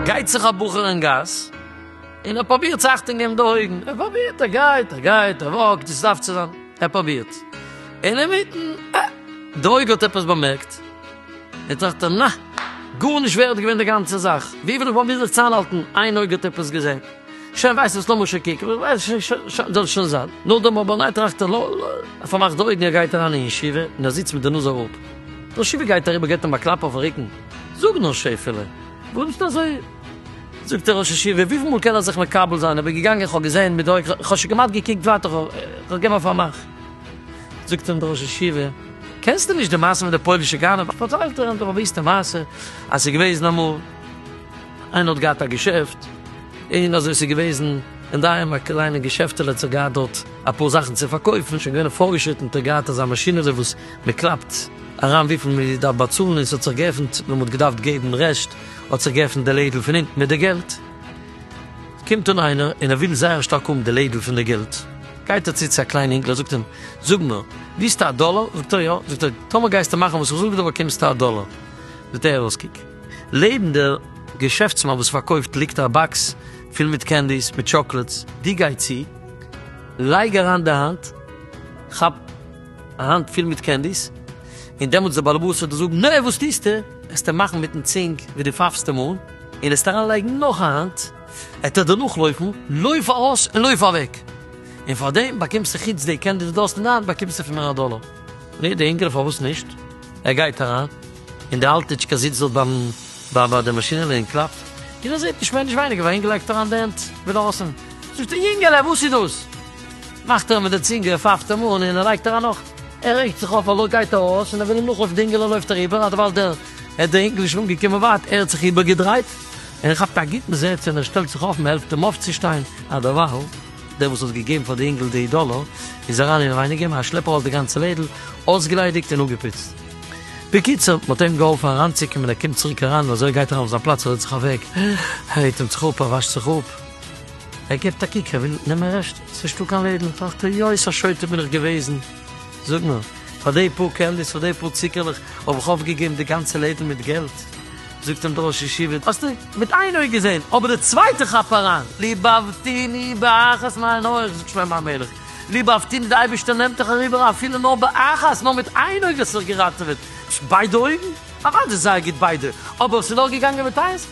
גייט זיך א בחור אין גאס, און ער פרובירט צו אכטונג געבן די אויגן, ער פרובירט, ער גייט, ער גייט, ער וואקט, ווי ס'דארף צו זיין, ער פרובירט, אינמיטן, אה! די אויג האט עפעס באמערקט. די טאכטער, נע! גארנישט ווערד געווען די גאנצע זאך, ווי וועל איך באמיר זיך צאנהאלטן, איין אויג האט עפעס געזען, שוין ווייסט וואס לאמיר שוין קוקן, זאל שוין זיין, נאכדעם אבער ניין טראכט ער, ער פארמאכט די אויגן, ער גייט אריין אין ישיבה, און ער זיצט מיט די נאז אראפ, דער שיפער גייט אריבער געט אים א קלאפ אויפן רוקן, זאג נאר שעפעלע, וואס ביסטו אזוי, זאגט דער ראש ישיבה, וויפיל מאל קען ער זיך מקבל זיין, איך בין געגאנגען איך האב געזען מיט די אויג, איך האב שוין כמעט געקוקט ווייטער, איך האב געווען פארמאכט. זאגט אים דער ראש ישיבה, קענסטו נישט די מעשה מיט די פוילישע גנב? פארציילט ער אים די באוויסטע מעשה, אז ס'איז געוועזן אמאל, איינער האט געהאט א געשעפט, און אזוי ס'איז געוועזן אין די היים א קליינע געשעפטעלע, האט זיך געהאט דארט אפאר זאכן צו פארקויפן, שוין געווען פארגעשריטן, האט ער געהאט אזא מאשינעלע וואס מ'קלאפט אריין וויפיל מ'דארף באצאלן, און ס'האט זיך געעפנט, ווען מ'האט געדארפט געבן רעשט, האט זיך געעפנט די לעדל פון אונטן מיט די געלט, קומט אן איינער און ער וויל זייער שטארק האבן די לעדל פון די געלט, גייט ער צו צו א קליין אינגל ער זאגט אים, זאג נאר, ווילסטו א דאלאר? זאגט ער יא, זאגט ער, טאמער גייסטו מאכן וואס איך זאג דיר באקומסטו א דאלאר, זעט ער אויס קוק, לעבן דער געשעפטסמאן וואס פארקויפט ליגט א באקס פול מיט קענדיס מיט טשאקלעדס, דו גיי צו, לייג אריין די האנט, כאפ. א האנט פיל מיט קענדיס, און דעמאלטס דער באלעבאס וועט דיר זאגן, נא וואס טוסטו? עסטו מאכן מיטן צינג ווי די פייפסטו מויל, און עסטו אריין לייגן נאך א האנט, וועט ער דיר נאכלויפן, לויף ארויס און לויף אוועק, און פאר דעם באקומסטו חוץ די קענדי וואס דו האסט אין די האנט באקומסטו פון מיר א דאלער. פרעגט די אינגעלע פארוואס נישט, ער גייט אריין, און די אלטיטשקע זיצט דארט ביים ביי די מאשינעלע און קלאפט, און ער זעט נישט מער נישט ווייניגער ווי א אינגעל לייגט אריין די הענט ווי דארסן, זאגט ער, יונגעלע וואס איז דאס? מאכט ער מיט די צינגע פֿופֿצן מאל און ער לייגט אריין נאך. ער רעגט זיך אויף אלל גייט ער ארויס און ער וויל אים נאכלויפן די אינגעלע לויפט ער איבער אדערווייל דער ער דער אינגל איז שוין אנגעקומען ווייט ער האט זיך איבערגעדרייט און ער כאפט א גוטן זעץ און ער שטעלט זיך אויף מ'העלפט אים אויפצושטיין אדערווייל דער וואס האט געגעבן פאר די אינגל די דאללער איז אריין אינעווייניגער מיט א שלעפ ארויס די גאנצע לעדל אויסגעליידיגט און אפגעפוצט בקיצור מ'האט אים געהאלפן אריינצוקומען ער קומט צוריק אריין און אזוי ער גייט אריין אויף זיין פלאץ ער זעצט זיך אוועק ער הייבט אים זיך אפ ער וואשט זיך אפ. ער געבט א קוק, ער וויל נעמען רעשט, ס'נישט דא קיין לעדל, טראכט ער, יא איז א שוטה בין איך געוועזן, זאג נאר, פאר די פאר קענדיס, פאר די פאר ציקערלעך, האב איך אויפגעגעבן די גאנצע לעדל מיט געלט? זאגט אים דער ראש ישיבה, האסטו מיט איין אויג געזען, אבער די צווייטע כאפ אריין, ליבאוותיני באחת מיין אויך, זאגט שלמה המלך, ליבאוותיני די אייבערשטער נעמט דיך אריבער אפילו נאר באחת, נאר מיט איין אויג האסטו דיך געראטעוועט, ביידע אויגן? אוודאי זייער גוט ביידע, אבער האסטו נאר געגאנגען מיט איינס?